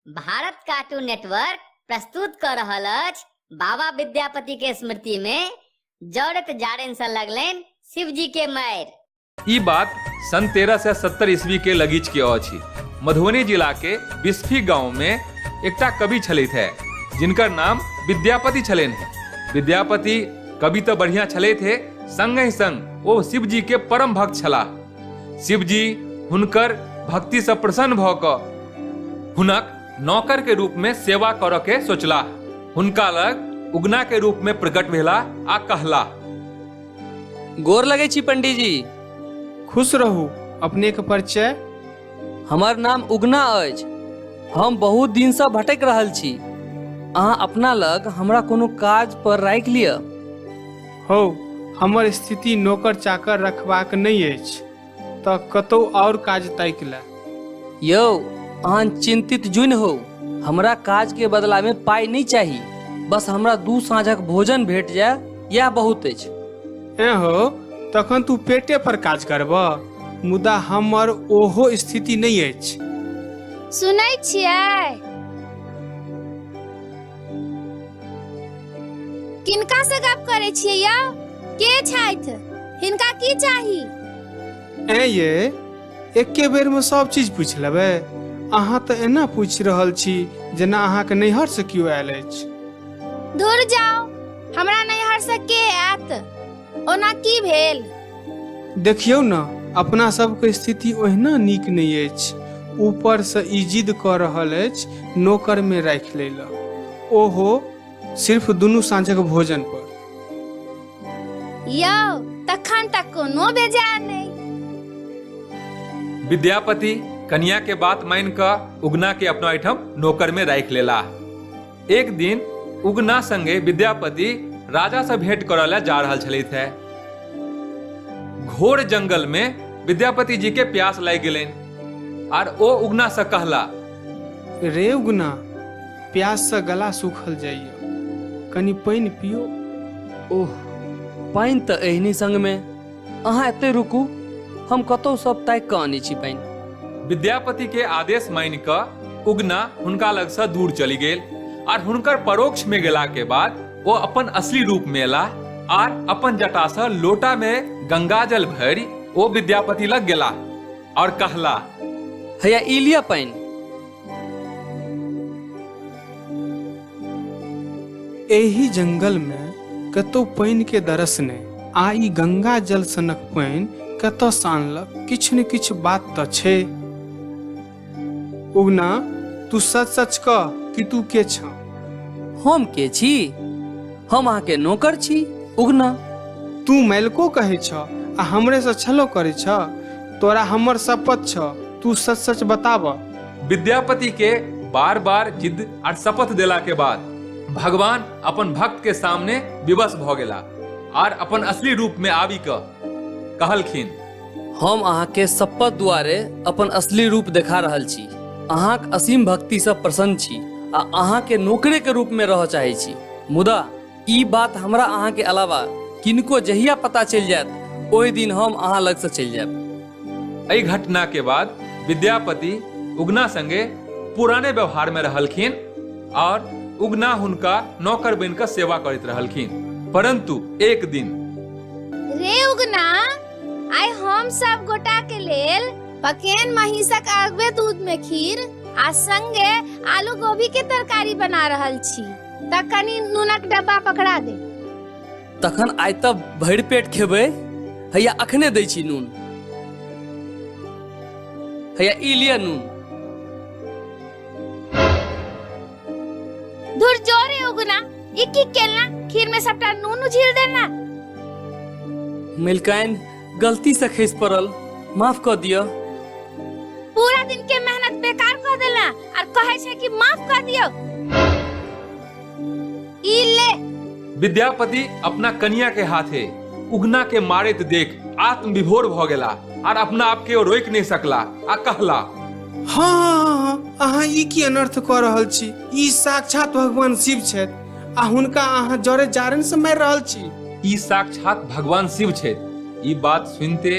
Bharat cartoon network प्रस्तुत कर रहल अछि बाबा विद्यापति के स्मृति में जड़त जाड़न से लगलनि शिव जी के मायर ई बात सन तेरह सए सत्तर ईस्वी के लगीच के अछि मधुबनी जिला के बिस्फी गांव में एकटा कवि छलथि है जिनकर नाम विद्यापति छलनि है विद्यापति कवि तऽ बढ़िया छलथि हे संगहि संग ओ शिव जी के परम भक्त छलाह शिव जी हुनकर भक्ति से प्रसन्न भऽ कऽ हुनक नौकर के रूप में सेवा करऽ के सोचलाह हुनका लग उगना के रूप में प्रकट भेला आ कहला गोर लगै छी पंडीजी खुश रहू अपने के परिचय हमर नाम उगना अछि हम बहुत दिनसँ भटकि रहल छी अहाँ अपना लग हमरा कोनो काज पर राखि लिअ हौ हमर स्थिति नौकर चाकर रखबाक नहि अछि तऽ कतौ आओर काज ताकि ले यौ अहाँ चिन्तित जुनि हो हमरा काज के बदला में पाई नहीं चाही बस हमरा दू साँझक भोजन भेट जाय यह बहुत अछि एँ हौ तखन तू पेटे पर काज करबह मुदा हमर ओहो स्थिति नहि अछि सुनै छियै किनका से गप करै छियै यौ के छथि हिनका की चाही ऐं ये एके बेरमे सभ चीज पूछि लेबै अहाँ तऽ एना पूछि रहल छी जेना अहाँके नैहरसँ केओ आयल अछि दूर जाओ हमरा नैहर से के आयत ओना की भेल देखियौ ने अपना सबके स्थिति ओहिना नीक नहि अछि ऊपरसँ ई जिद कऽ रहल अछि नौकरमे राखि लै लए ओहो सिर्फ दुनू साँझक भोजन पर यौ तखन तक कोनो बेजाय नहि विद्यापति कन्या के बात मान कऽ उगना के अपना एहिठाम नौकर में राखि लेला एक दिन उगना संगे विद्यापति राजा से भेंट करऽ लए जा रहल छलथि है घोर जंगल में विद्यापति जी के प्यास लागि गेलनि आर ओ उगना से कहला रे उगना प्यास से गला सूखल जाइए कनि पानि पियो ओह पानि तऽ एहनी संग में अहाँ एतै रुकू हम कतौ सब तय कऽ आनै छी पानि विद्यापति के आदेश मानि कऽ उगना हुनका लग से दूर चलि गेल आर हुनकर परोक्ष में गेला के बाद ओ अपन असली रूप में एलाह आर अपन जटा से लोटा में गंगाजल भरि ओ विद्यापति लग गेलाह और कहला हैया ई लिअ पानि एहि जंगल मे कतौ पानि के दरस नहि आ ई गंगा जल सनक पानि कतऽ से आनलक किछु ने किछु बात तऽ छै उगना तू सच सच कह कि तू के छ हम के छी हम अहाँके नौकर छी उगना तू मैलको कहै छ आ हमरे से छलो करै छ तोरा हमर शपथ छ तू सच सच बताब विद्यापति के बार बार जिद और शपथ देला के बाद भगवान अपन भक्त के सामने विवश भ गेला और अपन असली रूप में आबि क कहलखिन हम अहाँके शपथ द्वारे अपन असली रूप देखा रहल छी अहाँक असीम भक्तिसँ प्रसन्न छी आ अहाँके नौकरेके रूपमे रहय चाहै छी मुदा ई बात हमरा अहाँ के अलावा किनको जहिया पता चलि जायत ओहि दिन हम अहाँ लग से चलि जायब एहि घटना के बाद विद्यापति उगना संगे पुराने व्यवहार में रहलखिन और उगना हुनका नौकर बन कर सेवा करत रहलखिन परंतु एक दिन रे उगना आइ हम सब गोटा के लेल पकेन महिषक अगवे दूध में खीर आ संगे आलू गोभी के तरकारी बना रहल छी तऽ कनी नूनक डब्बा पकड़ा दे तखन आइ तऽ भरि पेट खेबै हैया अखने दै छी नून हैया ई लिअ नून धुर जोरे उगना ई की केलना खीर में सबटा नून उझिल देना मलिकाइन गलती से खसि पड़ल माफ कऽ दिअ पूरा दिन के मेहनत बेकार कर देला और कहे छे कि माफ कर दियो ई ले विद्यापति अपना कनिया के हाथे उगना के मारैत देख आत्म विभोर भ गेला आर अपना आप के रोक नहीं सकला आ कहला हँ हँ हँ हँ अहाँ ई की अनर्थ कऽ रहल छी ई साक्षात भगवान शिव छथि आ हुनका अहाँ जरे जारन से मारि रहल छी ई साक्षात भगवान शिव छथि ई बात सुनते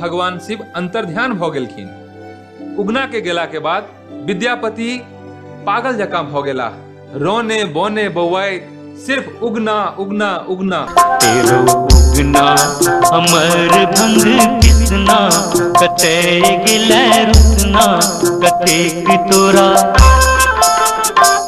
भगवान शिव अंतर्ध्यान भऽ गेलखिन उगना के गेला के बाद विद्यापति पागल जकाँ भऽ गेला रोने बोने बौआए सिर्फ उगना उगना उगना तेरो उगना अमर भंग किसना कते गिलै रुतना कतेक तोरा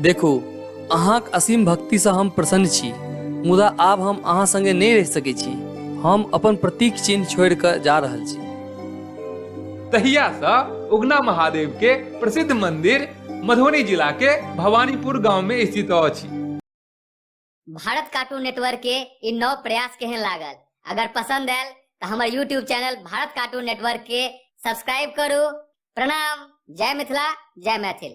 देखू अहाँक असीम भक्तिसँ हम प्रसन्न छी मुदा आब हम अहाँ संगे नहि रहि सकैत छी हम अपन प्रतीक चिन्ह छोड़ि कऽ जा रहल छी तहियासँ उगना महादेव के प्रसिद्ध मंदिर मधुबनी जिला के भवानीपुर गांव में स्थित अछि भारत कार्टून नेटवर्क के इ नव प्रयास केहन लागल अगर पसंद आयल तो हमारे YouTube channel Bharat cartoon network के सब्सक्राइब करू प्रणाम जय मिथिला जय मैथिल